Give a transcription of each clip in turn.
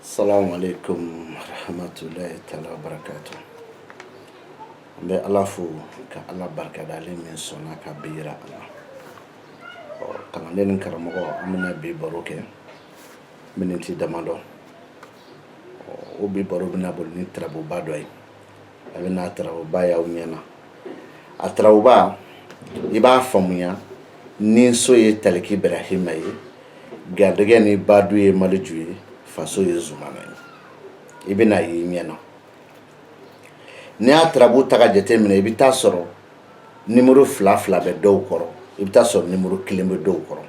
Assalamu alaikum warahmatullahi taala wabarakatuh. An bɛ Ala fo ka Ala barikada ale min sɔnna ka bi yira an na. Ɔ kalanden ni karamɔgɔ an bɛna bi baro kɛ miniti damadɔ. Ɔ o bi baro bɛna boli ni tarabuba dɔ ye. a bɛna tarabuba y'aw ɲɛ na a tarabuba i b'a faamuya ni so ye taliki ibrahima ye garijɛgɛ ni badu ye maliju ye faso ye zumana ye i bɛn'a y'i ɲɛ na n'i y'a tarabu ta k'a jate minɛ i bɛ taa sɔrɔ nimuru fila fila bɛ dɔw kɔrɔ i bɛ taa sɔrɔ nimuru kelen bɛ dɔw kɔrɔ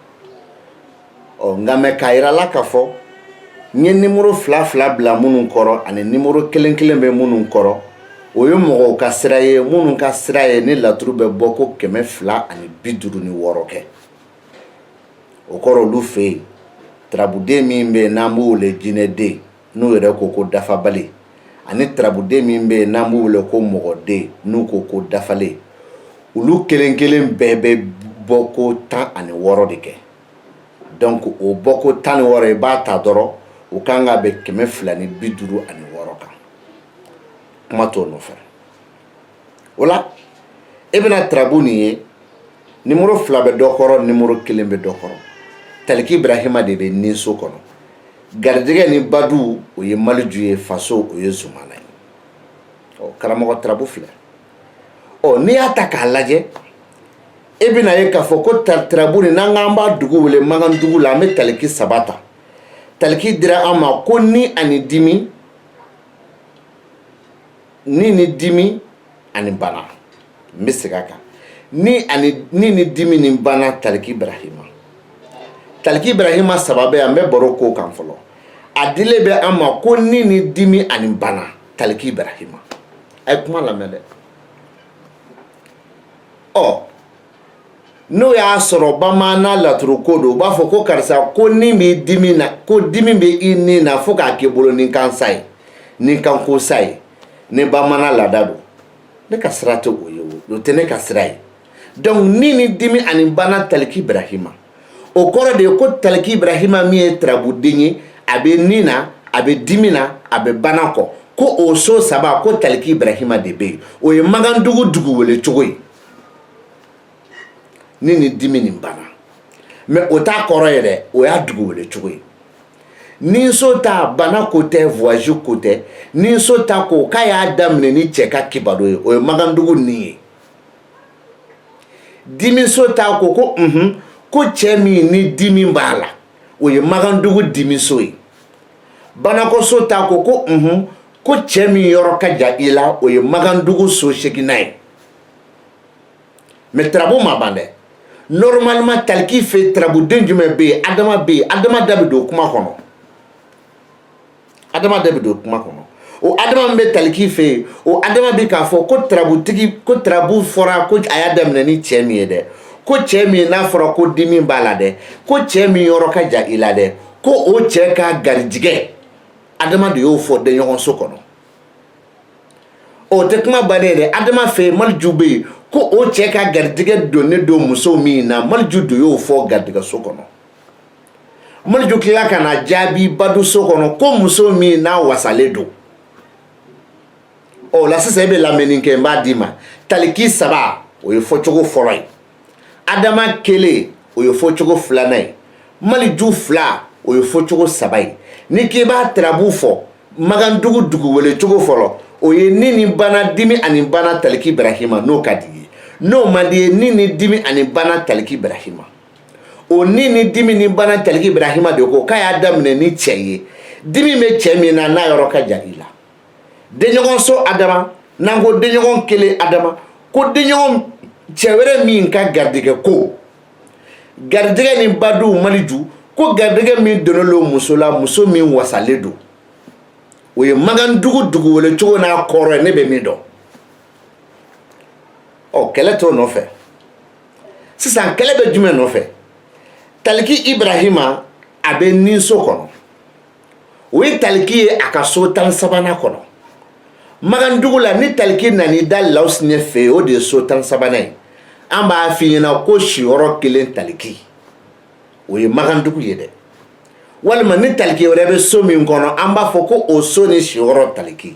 ɔ nka mɛ k'a yira aw la k'a fɔ n ye nimuru fila fila bila minnu kɔrɔ ani nimuru kelen kelen bɛ minnu kɔrɔ o ye mɔgɔw ka sira ye minnu ka sira ye ni laturu bɛ bɔ ko kɛmɛ fila ani bi duuru ni wɔɔrɔ kɛ o kɔrɔ olu fɛ yen tarabuden min bɛ yen n'an b'o wele jinɛden n'u yɛrɛ ko ko dafabali ani tarabuden min bɛ yen n'an b'u wele ko mɔgɔden n'u ko ko dafalen olu kelen kelen bɛɛ bɛ bɔ ko tan ani wɔɔrɔ de kɛ donc o bɔ ko tan ni wɔɔrɔ i b'a ta dɔrɔn u ka kan ka bɛn kɛmɛ fila ni bi duuru ani wɔɔrɔ kan kuma t'o nɔfɛ o la e bɛna tarabu nin ye nimoro fila bɛ dɔ kɔrɔ nimoro kelen bɛ dɔ kɔrɔ taliki ibrahima de bɛ ni so kɔnɔ garijɛgɛ ni badu o ye maliju ye faso o ye zumana ye ɔ karamɔgɔ tarabu filɛ ɔ n'i y'a ta k'a lajɛ e bɛna ye k'a fɔ ko tari tarabu nin n'an k'an b'a dugu wele magandugu la an bɛ taliki saba ta taliki dira an ma ko ni ani dimi ni ni dimi ani bana n bɛ segin a kan ni ani ni ni dimi ni bana taliki ibrahima taliki ibrahima saba bɛ an bɛ baro k'o kan fɔlɔ a dilen bɛ an ma ko ni ni dimi ani bana taliki ibrahima a ye kuma lamɛn dɛ ɔ n'o y'a sɔrɔ bamanan laturuko don u b'a fɔ ko karisa ko ni b'i dimi na ko dimi bɛ i ni na fo k'a k'i bolo ni kansa ye ni kanko sa ye ni bamanan laada don ne ka sira tɛ o ye o tɛ ne ka sira ye donc ni ni dimi ani bana taliki ibrahima o kɔrɔ de ye ko taliki ibrahima min ye tarabuden ye a bɛ ni na a bɛ dimi na a bɛ bana kɔ ko o so saba ko taliki ibrahima de bɛ yen o ye magandugu dugu wele cogo ye ni ni dimi ni bana mais o t'a kɔrɔ ye dɛ o y'a dugu wele cogo ye ni so ta bana ko tɛ voyage ko tɛ ni so ta ko k'a y'a daminɛ ni cɛ ka kibaro ye o ye magandugu nin ye dimiso ta ko ko unhun ko cɛ min ni dimi b'a la o ye magandugu dimiso ye banakɔso ta ko ko unhun ko cɛ min yɔrɔ ka jan i la o ye magandugu so seginnan ye mɛ tarabu ma ban dɛ normalement taliki fɛ tarabuden jumɛn bɛ yen adama bɛ yen adama da bɛ don kuma kɔnɔ adama de bɛ don kuma kɔnɔ o adama min bɛ taliki fɛ yen o adama bɛ k'a fɔ ko tarabutigi ko tarabu fɔra ko a y'a daminɛ ni cɛ min ye dɛ ko cɛ min n'a fɔra ko dimi b'a la dɛ ko cɛ min yɔrɔ ka jan i la dɛ ko o cɛ ka garijigɛ adama de y'o fɔ denɲɔgɔnso kɔnɔ o tɛ kuma bannen dɛ adama fɛ yen maliju bɛ yen ko o cɛ ka garijigɛ donnen don muso min na maliju de y'o fɔ garijigɛso kɔnɔ maliju tila ka na jaabi baduso kɔnɔ ko muso min n'a wasalen don ɔ la sisan e bɛ lamɛnni kɛ n b'a d'i ma taliki saba o ye fɔcogo fɔlɔ ye adama kelen o ye fɔcogo filanan ye maliju fila o ye fɔcogo saba ye ni k'i b'a tarabu fɔ magandugu dugu wele cogo fɔlɔ o ye ni ni bana dimi ani bana taliki ibrahima n'o ka d'i ye n'o man d'i ye ni ni dimi ani bana taliki ibrahima o ni ni dimi ni bana taliki ibrahima de ko k'a y'a daminɛ ni cɛ ye dimi bɛ cɛ min na n'a yɔrɔ ka jan i la denɲɔgɔn so adama n'an ko denɲɔgɔn kelen adama ko denɲɔgɔn cɛ wɛrɛ min ka garijɛgɛ ko garijɛgɛ ni badu maliju ko garijɛgɛ min donnen don muso la muso min wasalen don o ye magandugu dugu wele cogo n'a kɔrɔ ye ne bɛ min dɔn ɔ kɛlɛ t'o nɔfɛ sisan kɛlɛ bɛ jumɛn nɔfɛ taliki ibrahima a bɛ ninso kɔnɔ o ye taliki ye a ka so tan ni sabanan kɔnɔ magandugu la ni taliki nan'i da lawusinɛ fɛ o de ye so tan ni sabanan ye an b'a f'i ɲɛ na ko siyɔrɔ kelen taliki o ye magandugu ye dɛ walima ni taliki wɛrɛ bɛ so min kɔnɔ an b'a fɔ ko o so ni siyɔrɔ taliki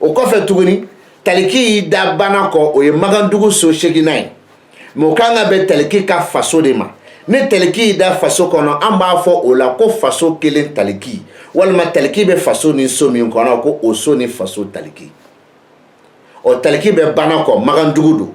o kɔfɛ tuguni taliki i da bana kɔ o ye magandugu so seginnan ye mɛ o kan ka bɛn taliki ka faso de ma ni taliki i da faso kɔnɔ an b'a fɔ o la ko faso kelen taliki walima taliki bɛ faso ni so min kɔnɔ ko o so ni faso taliki ɔ taliki bɛ bana kɔ magandugu don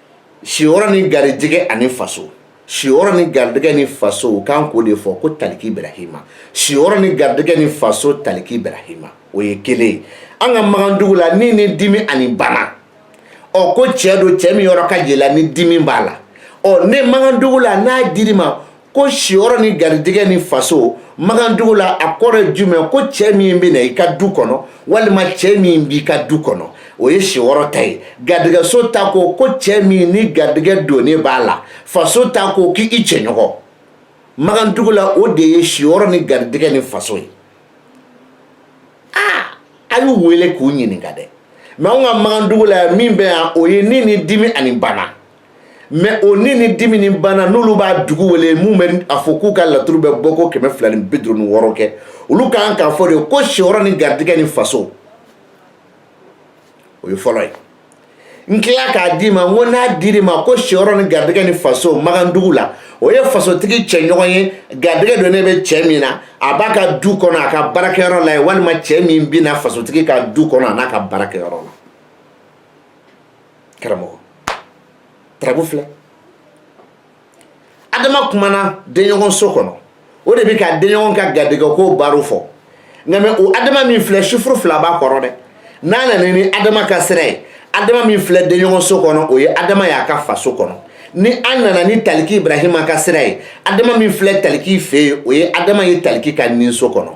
siyɔrɔ ni garijɛgɛ ani faso siyɔrɔ ni garijɛgɛ ni faso u kan k'o de fɔ ko taliki ibrahima siyɔrɔ ni garijɛgɛ ni faso taliki ibrahima o ye kelen ye an ka magandugu la ni ni dimi ani bana ɔ ko cɛ don cɛ min yɔrɔ ka jan i la ni dimi b'a la ɔ ne magandugu la n'a d'i ma ko siyɔrɔ ni garijɛgɛ ni faso makandugu la a kɔrɔ jumɛn ko cɛ min bɛ na i ka du kɔnɔ walima cɛ min b'i ka du kɔnɔ o ye siyɔrɔ ta ye garijɛgɛso ta ko ko cɛ min ni garijɛgɛ donnen b'a la faso ta ko k'i cɛɲɔgɔn makandugu la o de ye siyɔrɔ ni garijɛgɛ ni faso ye aa a y'u wele k'u ɲininka dɛ mɛ anw ka makandugu la min bɛ yan o ye ni ni dimi ani bana mɛ o ni ni dimi ni bana n'olu b'a dugu wele minnu bɛ a fɔ k'u ka laturu bɛ bɔ ko kɛmɛ fila ni bi duuru ni wɔɔrɔ kɛ olu kan k'a fɔ de ko siyɔrɔ ni garijɛgɛ ni faso o ye fɔlɔ ye n tila k'a d'i ma n ko n'a dir'i ma ko siyɔrɔ ni garijɛgɛ ni faso magandugu la o ye fasotigi cɛɲɔgɔn ye garijɛgɛ donnen bɛ cɛ min na a b'a ka du kɔnɔ a ka baarakɛyɔrɔ la ye walima cɛ min bɛ na fasotigi ka du kɔnɔ an'a ka baarakɛyɔrɔ la karamɔgɔ tarabu filɛ adama kumana denɲɔgɔn so kɔnɔ o de bɛ ka denɲɔgɔn ka garijɛgɛ ko baro fɔ nka mɛ o adama min filɛ sifuru fila b'a kɔrɔ dɛ n'a nana ni adama ka sira ye adama min filɛ denɲɔgɔn so kɔnɔ o ye adama y'a ka faso kɔnɔ ni an nana ni taliki ibrahima ka sira ye adama min filɛ taliki fɛ yen o ye adama ye taliki ka ninso kɔnɔ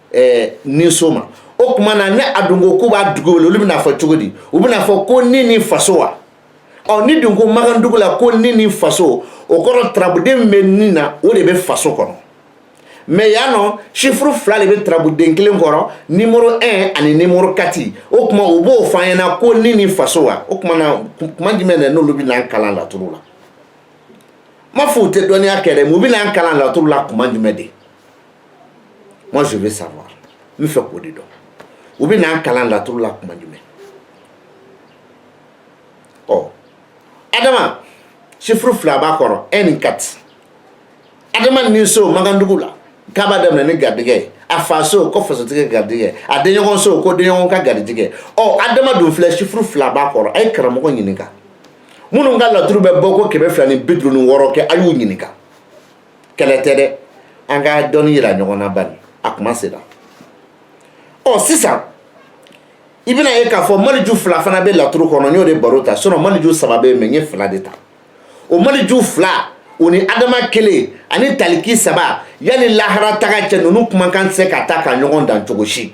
ɛɛ ninso ma o tuma na ni a dun ko k'u b'a dugu wele olu bɛna fɔ cogo di u bɛna fɔ ko ni ni faso wa ɔ ni dun ko makandugu la ko ni ni faso o kɔrɔ tarabuden min bɛ nin na o de bɛ faso kɔnɔ mɛ yan nɔ sifuru fila de bɛ tarabuden kelen kɔrɔ nimoro 1 ani nimoro 4 o tuma u b'o fɔ an ɲɛna ko ni ni faso wa o tuma na kuma jumɛn de n'olu bɛ n'an kalan laturu la n m'a fɔ u tɛ dɔnniya kɛ dɛ mun bɛ n'an kalan laturu la kuma jumɛn de moi je veux savoir n bɛ fɛ k'o de dɔn u bɛ n'an kalan laturu la kuma jumɛn ɔ adama sifuru fila b'a kɔrɔ un ni quatre adama ni so makandugu la k'a b'a daminɛ ni garijɛgɛ ye a faso ko fasotigi ka garijɛgɛ a denɲɔgɔn so ko denɲɔgɔn ka garijɛgɛ ɔ adama dun filɛ sifuru fila b'a kɔrɔ a ye karamɔgɔ ɲininka minnu ka laturu bɛ bɔ ko kɛmɛ fila ni bi duuru ni wɔɔrɔ kɛ a y'u ɲininka kɛlɛ tɛ dɛ an ka dɔnni yira ɲɔgɔn na bani a kuma sera ɔ sisan i bɛna ye k'a fɔ maliju fila fana bɛ laturu kɔnɔ n y'o de baro ta sinɔn maliju saba bɛ yen mɛ n ye fila de ta o maliju fila o ni adama kelen ani taliki saba yanni lahara taga cɛ ninnu kumakan tɛ se ka taa ka ɲɔgɔn dan cogo si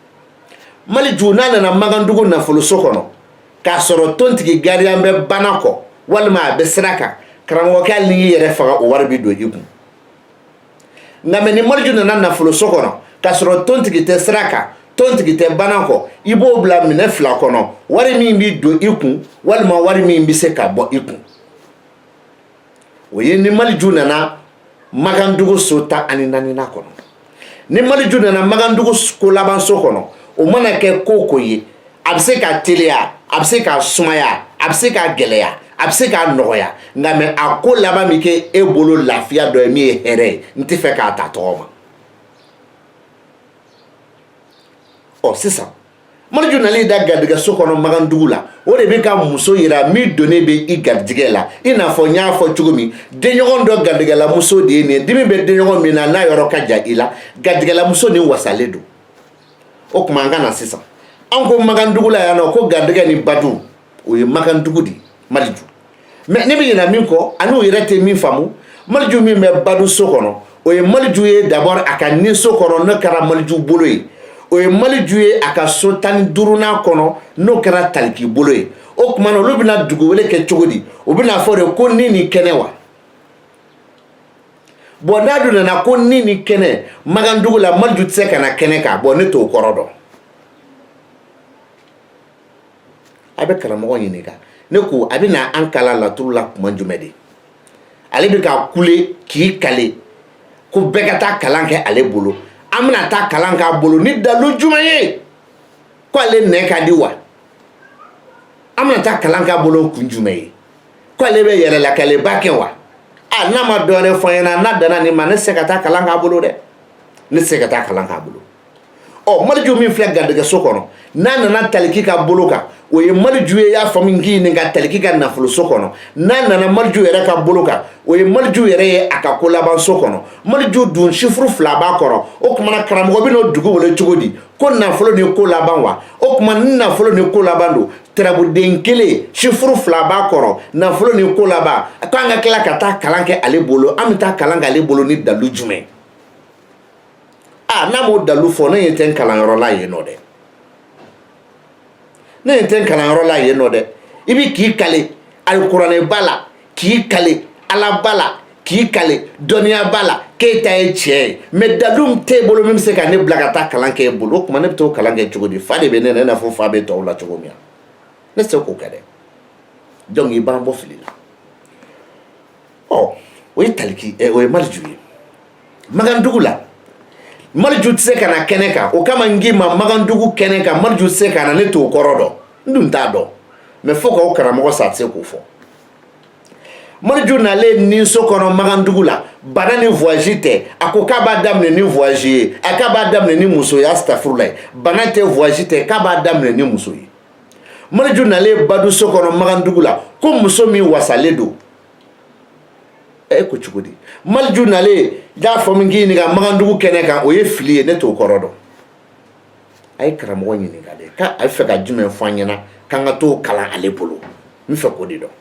maliju n'a nana makandugu nafoloso kɔnɔ k'a sɔrɔ tontigi gariyan bɛ banakɔ walima a bɛ sira kan karamɔgɔkɛ hali n'i yɛrɛ faga o wari bɛ don i kun nka mɛ ni maliju nana nafoloso kɔnɔ k'a sɔrɔ tontigi tɛ sira kan tontigi tɛ banakɔ i b'o bila minɛ fila kɔnɔ wari min bɛ don i kun walima wari min bɛ se ka bɔ i kun o ye ni maliju nana magandugu so tan ani naaninan kɔnɔ ni maliju nana magandugu ko labanso kɔnɔ o mana kɛ ko o ko ye a bɛ se ka teliya a bɛ se ka sumaya a bɛ se ka gɛlɛya a bɛ se ka nɔgɔya nka mais a ko laban bɛ kɛ e bolo lafiya dɔ ye min ye hɛrɛ ye n tɛ fɛ k'a ta tɔgɔ ma ɔ sisan maliju nalen da garijɛgɛ so kɔnɔ magandugu la o de bɛ ka muso yira min donnen bɛ i garijɛgɛ la i n'a fɔ n y'a fɔ cogo min denɲɔgɔn dɔ garijɛgɛlamuso de ye ni dimi bɛ denɲɔgɔn min na n'a yɔrɔ ka jan i la garijɛgɛlamuso nin wasalen don o tuma an ka na sisan an ko magandugu la yan nɔ ko garijɛgɛ ni badu o ye magandugu de ye maliju mais ne bɛ ɲinɛ min kɔ ani u yɛrɛ tɛ min faamu maliju min bɛ badu so kɔnɔ o ye maliju ye d'abord a ka ni so kɔnɔ n'o kɛra maliju bolo ye o ye maliju ye a ka so tan ni duurunan kɔnɔ n'o kɛra taliki bolo ye o tuma na olu bɛna dugu wele kɛ cogo di u bɛn'a fɔ de ko ni ni kɛnɛ wa bon n'a dun nana ko ni ni kɛnɛ magandugu la maliju tɛ se ka na kɛnɛ kan bon ne t'o kɔrɔ dɔn a bɛ karamɔgɔ ɲininka ne ko a bɛ na an kalan laturu la tuma jumɛn de ale bɛ ka kule k'i kale ko bɛɛ ka taa kalan kɛ ale bolo an bɛna taa kalan k'a bolo ni dalu jumɛn ye ko ale nɛ ka di wa an bɛna taa kalan k'a bolo kun jumɛn ye ko ale bɛ yɛrɛlakaleba kɛ wa a n'a ma dɔwɛrɛ fɔ n ɲɛna n'a danna nin ma ne tɛ se ka taa kalan k'a bolo dɛ ne tɛ se ka taa kalan k'a bolo ɔ maliju min filɛ garijɛgɛso kɔnɔ n'a nana taliki ka bolo kan o ye maliju ye y'a faamu k'i ɲininka taliki ka nafoloso kɔnɔ n'a nana maliju yɛrɛ ka bolo kan o ye maliju yɛrɛ ye a ka ko labanso kɔnɔ maliju dun chiffre fila b'a kɔrɔ o tuma na karamɔgɔ bɛn'o dugu wele cogo di ko nafolo ni ko laban wa o tuma ni nafolo ni ko laban don turabuden kelen chiffre fila b'a kɔrɔ nafolo ni ko laban k'an ka tila ka taa kalan kɛ ale bolo an bɛ taa kalan kɛ ale bolo ni dalu jumɛn n'a m'o dalu fɔ ne ɲɛ tɛ n kalanyɔrɔ la yen nɔ dɛ ne ɲɛ tɛ n kalanyɔrɔ la yen nɔ dɛ i bɛ k'i kale alikuranɛba la k'i kale alaba la k'i kale dɔnniyaba la k'e ta ye tiɲɛ ye mais dalu min t'e bolo min bɛ se ka ne bila ka taa kalan kɛ e bolo o tuma ne bɛ t'o kalan kɛ cogo di fa de bɛ ne na i n'a fɔ fa bɛ tɔw la cogo min na ne tɛ se k'o kɛ dɛ donc i b'an bɔ fili la ɔ o ye taliki ɛ o ye mariju ye Magandugu la Mariju tɛ se ka na kɛnɛ kan o kama n k'i ma Magandugu kɛnɛ kan Mariju tɛ se ka na ne t'o kɔrɔ dɔn n dun t'a dɔn mais fo k'aw karamɔgɔ sa a tɛ se k'o fɔ Mariju nalen ninso kɔnɔ Magandugu la bana ni voyage tɛ a ko k'a b'a daminɛ ni voyage ye a k'a b'a daminɛ ni muso ye asitafurulayi bana tɛ voyage tɛ k'a b'a daminɛ ni muso ye Mariju nalen baduso kɔnɔ Magandugu la ko muso min wasalen don e ko cogo di maliju nalen y'a fɔ min k'i ɲininka magandugu kɛnɛ kan o ye fili ye ne t'o kɔrɔ dɔn a ye karamɔgɔ ɲininka de k'a bɛ fɛ ka jumɛn fɔ an ɲɛna k'an ka t'o kalan ale bolo n bɛ fɛ k'o de dɔn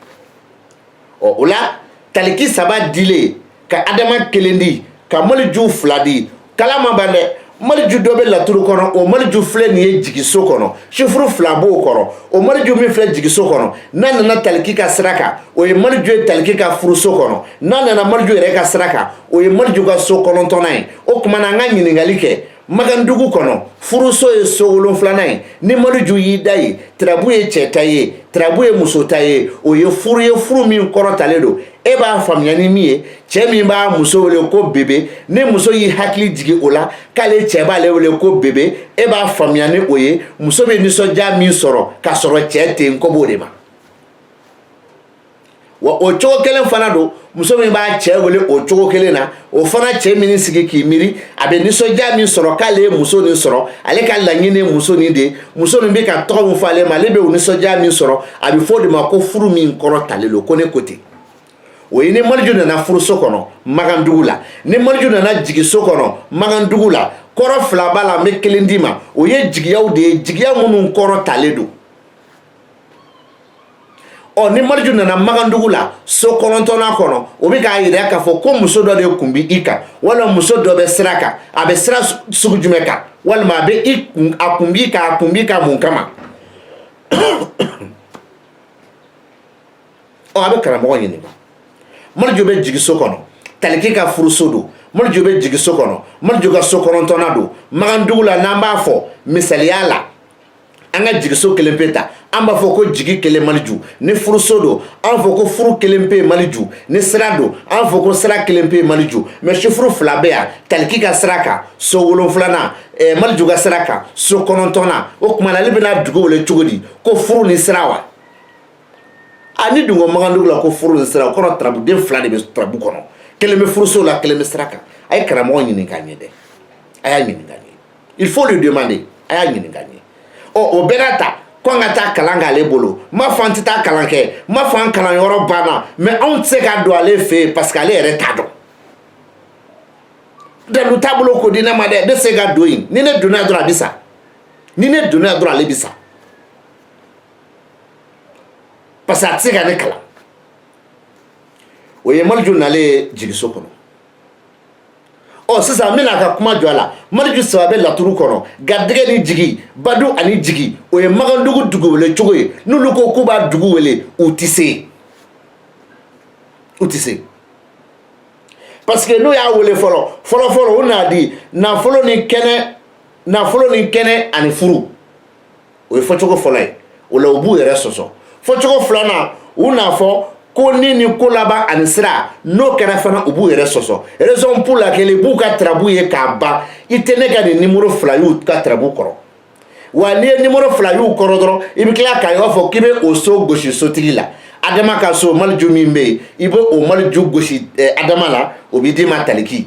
ɔ o la taliki saba dilen ka adama kelen di ka maliju fila di kalan ma ban dɛ maliju dɔ bɛ laturu kɔnɔ o maliju filɛ nin ye jigiso kɔnɔ sifuru fila b'o kɔrɔ o maliju min filɛ jigiso kɔnɔ n'a nana taliki ka sira kan o ye maliju ye taliki ka furuso kɔnɔ n'a nana maliju yɛrɛ ka sira kan o ye maliju ka so kɔnɔntɔnnan ye o tuma na an ka ɲininkali kɛ magandugu kɔnɔ furuso ye so wolonfilanan ye ni maliju y'i da yen tirabu ye cɛ ta ye tirabu ye muso ta ye o ye furu ye furu min kɔrɔtalen don e b'a faamuya ni min ye cɛ min b'a muso wele ko bebe ni muso y'i hakili jigin o la k'ale cɛ b'ale wele ko bebe e b'a faamuya ni o ye muso bɛ nisɔndiya min sɔrɔ k'a sɔrɔ cɛ tɛ yen ko b'o de ma wa o cogo kelen fana don muso min b'a cɛ wele o cogo kelen na o fana cɛ man'i sigi k'i miiri a bɛ nisɔndiya min sɔrɔ k'ale ye muso nin sɔrɔ ale ka laɲini ye muso nin de ye muso nin bɛ ka tɔgɔ min fɔ ale ma ale bɛ o nisɔndiya min sɔrɔ a bɛ fɔ o de ma ko furu min kɔrɔtalen don ko ne ko ten o ye ni maliju nana furuso kɔnɔ magandugu la ni maliju nana jigiso kɔnɔ magandugu la kɔrɔ fila b'a la n bɛ kelen d'i ma o ye jigiyaw de ye jigiya minnu kɔrɔtalen don ɔ ni maliju nana magandugu la so kɔnɔntɔnnan kɔnɔ o bɛ k'a yira k'a fɔ ko muso dɔ de kun bɛ i kan walima muso dɔ bɛ sira kan a bɛ sira sugu jumɛn kan walima a bɛ i kun a kun b'i kan a kun b'i kan mun kama ɔ a bɛ karamɔgɔ ɲininka maliju bɛ jigiso kɔnɔ taliki ka furuso don maliju bɛ jigiso kɔnɔ maliju ka so kɔnɔntɔnnan don magandugu la n'an b'a fɔ misaliya la an ka jigiso kelen pe ta an b'a fɔ ko jigi kelen maliju ni furuso don an fɔ ko furu kelen pe maliju ni sira don an fɔ ko sira kelen pe maliju mais sifuru fila bɛ yan taliki ka sira kan so wolonfilanan eh, maliju ka sira kan so kɔnɔntɔnnan o tuma na ale bɛna dugu wele cogo di ko furu ni sira wa ani ah, dungo magandugu la ko furu ni sira o kɔrɔ tarabuden fila de bɛ tarabu kɔnɔ kelen bɛ furuso la kelen bɛ sira kan a ye karamɔgɔ ɲininka n ye dɛ a y'a ɲininka il faut lui demander a y'a ɲininka n ye ɔ o bɛɛ n'a ta ko an ka taa kalan k'ale bolo n m'a fɔ an tɛ taa kalan kɛ n m'a fɔ an kalanyɔrɔ banna mais anw tɛ se ka don ale fɛ yen parce que ale yɛrɛ t'a dɔn dalu taabolo ko di ne ma dɛ ne tɛ se ka don yen ni ne donna yen dɔrɔn a bɛ sa ni ne donna yen dɔrɔn ale bɛ sa parce que a tɛ se ka ne kalan o ye maliju nalen ye jigiso kɔnɔ ɔ sisan n bɛ na ka kuma jɔ a la mariju saba bɛ laturu kɔnɔ garijɛgɛ ni jigi badu ani jigi o ye magandugu dugu wele cogo ye n'olu ko k'u b'a dugu wele u tɛ se u tɛ se parce que n'u y'a wele fɔlɔ fɔlɔfɔlɔ u n'a di nafolo ni kɛnɛ nafolo ni kɛnɛ ani furu o ye fɔcogo fɔlɔ ye o la u b'u yɛrɛ sɔsɔ fɔcogo filanan u n'a fɔ ko ni ni ko laban ani sira n'o kɛra fana u b'u yɛrɛ sɔsɔ raison pour laquelle i b'u ka tarabu ye k'a ban i tɛ ne ka nin nimoro fila y'u ka tarabu kɔrɔ wa n'i ye nimoro fila y'u kɔrɔ dɔrɔn i bɛ tila k'a ye b'a fɔ k'i bɛ o so gosi sotigi la adama ka so maliju min bɛ yen i bɛ o maliju gosi adama la o bɛ d'i ma taliki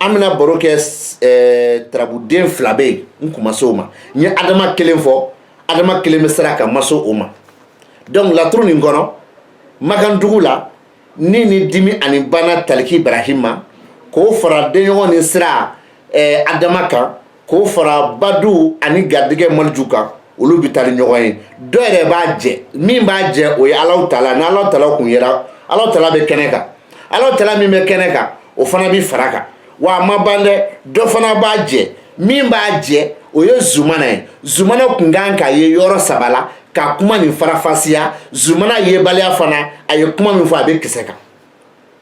an bɛna baro kɛ tarabuden fila bɛ yen n kun ma se o ma n ye adama kelen fɔ adama kelen bɛ sira kan n ma se o ma donc laturu nin kɔnɔ magandugu la ni ni dimi ani bana taliki brahima k'o fara denɲɔgɔn ni sira adama kan k'o fara badu ani garijɛgɛ maliju kan olu bɛ taa ni ɲɔgɔn ye dɔ yɛrɛ b'a jɛ min b'a jɛ o ye ala tala ni ala tala kun yera ala tala bɛ kɛnɛ kan ala tala min bɛ kɛnɛ kan o fana bɛ fara kan wa a ma ban dɛ dɔ fana b'a jɛ min b'a jɛ o ye zumana ye zumana kun kan ka ye yɔrɔ saba la ka kuma nin farafasiya zumana yebaliya fana a ye kuma min fɔ a bɛ kisɛ kan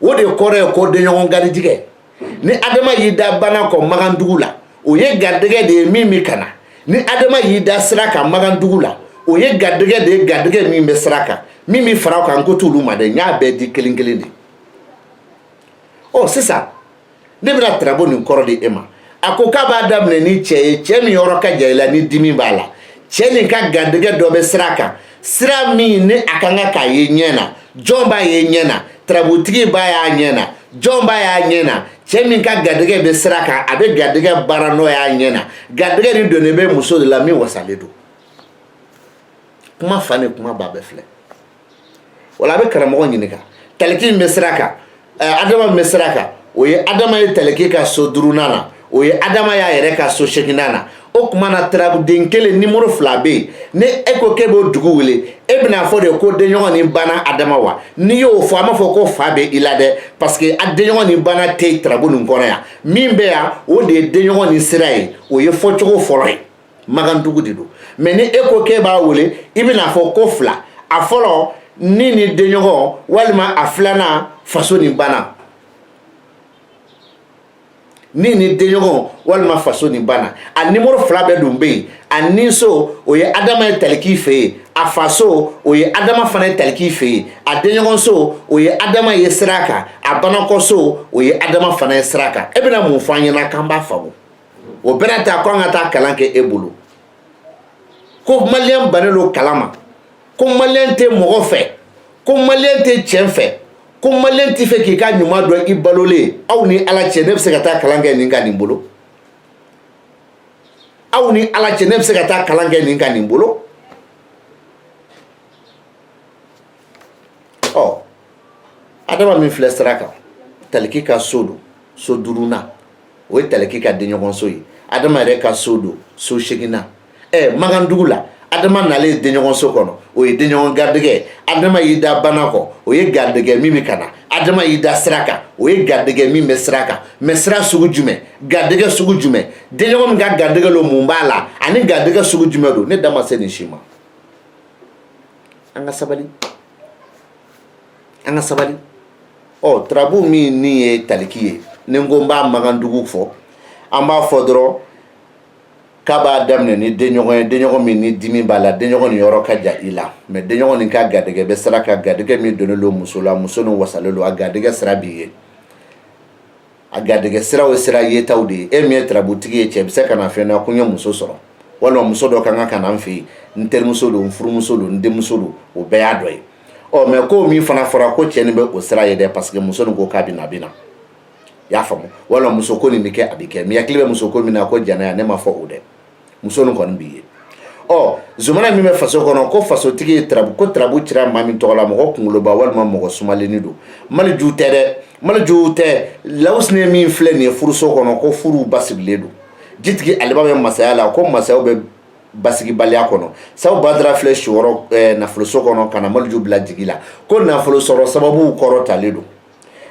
o de kɔrɔ ye ko denɲɔgɔn garijɛgɛ ni adama y'i da bana kɔ magandugu la o ye garijɛgɛ de ye min bɛ ka na ni adama y'i da sira kan magandugu la o ye garijɛgɛ de ye garijɛgɛ min bɛ sira kan min bɛ fara o kan n ko t'olu ma dɛ n y'a bɛɛ di kelen kelen de ɔ sisan ne bɛna tarabu nin kɔrɔ di e ma a ko k'a b'a daminɛ ni cɛ ye cɛ min yɔrɔ ka jan i la ni dimi b'a la cɛ nin ka garijɛgɛ dɔ bɛ sira kan sira min ni a kan ka k'a ye ɲɛ na jɔn b'a ye ɲɛ na tarabutigi b'a y'a ɲɛ na jɔn b'a y'a ɲɛ na cɛ min ka garijɛgɛ bɛ sira kan a bɛ garijɛgɛ baara nɔ y'a ɲɛ na garijɛgɛ nin donnen bɛ muso de la min wasalen don kuma fa ni kuma ba bɛɛ filɛ wala a bɛ karamɔgɔ ɲininka taliki min bɛ sira kan adama min bɛ sira kan o ye adama ye taliki ka so duurunan na o ye adama y'a yɛrɛ ka so seginnan na o tuma na tarabuden kelen nimoro fila bɛ yen ni e ko k'e b'o dugu wele e bɛn'a fɔ de ko denɲɔgɔn ni bana adama wa n'i y'o fɔ an b'a fɔ ko fa bɛ i la dɛ parce que a denɲɔgɔn ni bana tɛ tarabu nin kɔnɔ yan min bɛ yan o de ye denɲɔgɔn ni sira ye o ye fɔcogo fɔlɔ ye magandugu de don mɛ ni e ko k'e b'a wele i bɛna fɔ ko fila a fɔlɔ ni ni denɲɔgɔn walima a filanan faso ni bana ni ni denɲɔgɔn walima faso ni bana a nimoro fila bɛɛ dun bɛ yen a ninso o ye adama ye taliki fɛ yen a faso o ye adama fana ye taliki fɛ yen a denɲɔgɔnso o ye adama ye sira kan a banakɔso o ye adama fana ye sira kan e bɛna mun fɔ an ɲɛna k'an b'a faamu o bɛɛ n'a ta ko an ka taa kalan kɛ e bolo ko maliyɛn bannen don kalan ma ko maliyɛn tɛ mɔgɔ fɛ ko maliyɛn tɛ cɛn fɛ ko maliyɛn tɛ fɛ k'i ka ɲuman dɔn i balolen aw ni ala cɛ ne bɛ se ka taa kalan kɛ nin ka nin bolo aw ni ala cɛ ne bɛ se ka taa kalan kɛ nin ka nin bolo ɔ adama min filɛ sira kan taliki ka so don so duurunan o ye taliki ka denɲɔgɔnso ye adama yɛrɛ ka so don so seginnan ɛ magandugu la adama nalen ye denɲɔgɔnso kɔnɔ o ye denɲɔgɔn garijɛgɛ adama y'i da banakɔ o ye garijɛgɛ min bɛ ka na adama y'i da sira kan o ye garijɛgɛ min bɛ sira kan mɛ sira sugu jumɛn garijɛgɛ sugu jumɛn denɲɔgɔn min ka garijɛgɛ don mun b'a la ani garijɛgɛ sugu jumɛn don ne da ma se nin si ma an ka sabali an ka sabali ɔ turabu min ni ye taliki ye ni n ko n b'a magandugu fɔ an b'a fɔ dɔrɔn k'a b'a daminɛ ni denɲɔgɔn ye denɲɔgɔn min ni dimi b'a la denɲɔgɔn nin yɔrɔ ka jan i la mɛ denɲɔgɔn nin ka garijɛgɛ bɛ sira kan garijɛgɛ min donnen don muso la muso nin wasalen don a garijɛgɛ sira b'i ye a garijɛgɛ siraw ye sira yetaw de ye e min ye turabutigi ye cɛ bɛ se ka na fɛn na ko n ye muso sɔrɔ walima muso dɔ ka kan ka na n fɛ yen n terimuso don n furumuso don n denmuso don o bɛɛ y'a dɔ ye ɔ mɛ ko min fana fɔra ko cɛ nin bɛ o sira ye dɛ parce que muso nin ko k'a bɛ na a bɛ na i y'a faamu walima muso ko nin bɛ kɛ a bɛ kɛ mɛ hakili bɛ muso ko min na ko jɛnɛya ne ma fɔ o dɛ muso nin kɔni b'i ye ɔ zumana min bɛ faso kɔnɔ ko fasotigi ye tarabu ko tarabu cira maa min tɔgɔ la mɔgɔ kunkoloba walima mɔgɔ sumalenni don maliju tɛ dɛ maliju tɛ lawusine min filɛ nin ye furuso kɔnɔ ko furu basigilen don jitigi aliba bɛ masaya la ko masayaw bɛ basigibaliya kɔnɔ sabu badara filɛ siyɔrɔ eh, nafoloso kɔnɔ ka na maliju bila jigi la ko nafolo sɔrɔ sababuw kɔrɔ talen don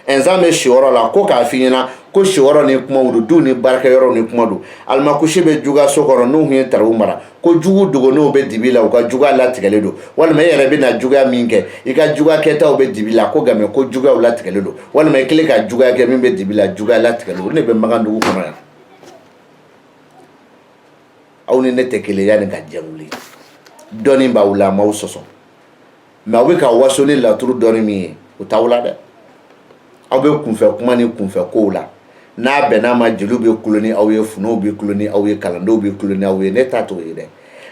ɛnzan bɛ siyɔrɔ la ko k'a f'i ɲɛna ko siyɔrɔ ni kumaw don duw ni baarakɛyɔrɔw ni kuma don alimakusi bɛ juguso kɔnɔ n'u tun ye tarabu mara ko jugu dogolenw bɛ dibi la u ka juguya latigɛlen don walima i yɛrɛ bɛna juguya min kɛ i ka juguya kɛtaw bɛ dibi la ko nka mɛ ko juguyaw latigɛlen don walima i kɛlen ka juguya kɛ min bɛ dibi la juguya latigɛlen don o de bɛ magandugu kɔnɔ yan aw ni ne tɛ kelen ye nin ka jɛwuli dɔɔni b'aw la n m'aw sɔsɔ mɛ aw bɛ ka waso ni laturu dɔɔni min ye o t'aw la dɛ aw bɛ kunfɛ kuma ni kunfɛ kow la n'a bɛnn'a ma jeliw bɛ kulo ni aw ye funɛw bɛ kulo ni aw ye kalandenw bɛ kulo ni aw ye ne ta t'o ye dɛ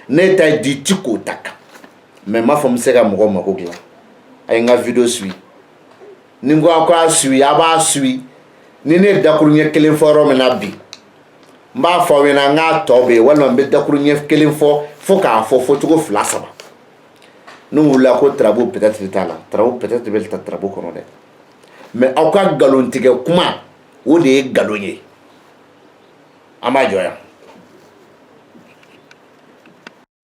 ne ta di ti k'o ta kan mɛ n m'a fɔ n bɛ se ka mɔgɔ mako dilan a ye n ka video suwi ni n ko aw k'a suwi a b'a suwi ni ne ye dakuruɲɛ kelen fɔ yɔrɔ min na bi n b'a fɔ aw ɲɛna n k'a tɔ bɛ yen walima n bɛ dakuruɲɛ kelen fɔ fo k'a fɔ fɔcogo fila saba n'u wulila ko tarabu pɛtɛtiri t'a la tarabu pɛtɛtiri bɛ ta tarabu kɔnɔ dɛ mɛ aw ka nkalontigɛ kuma o de ye nkalon ye an b'a jɔ yan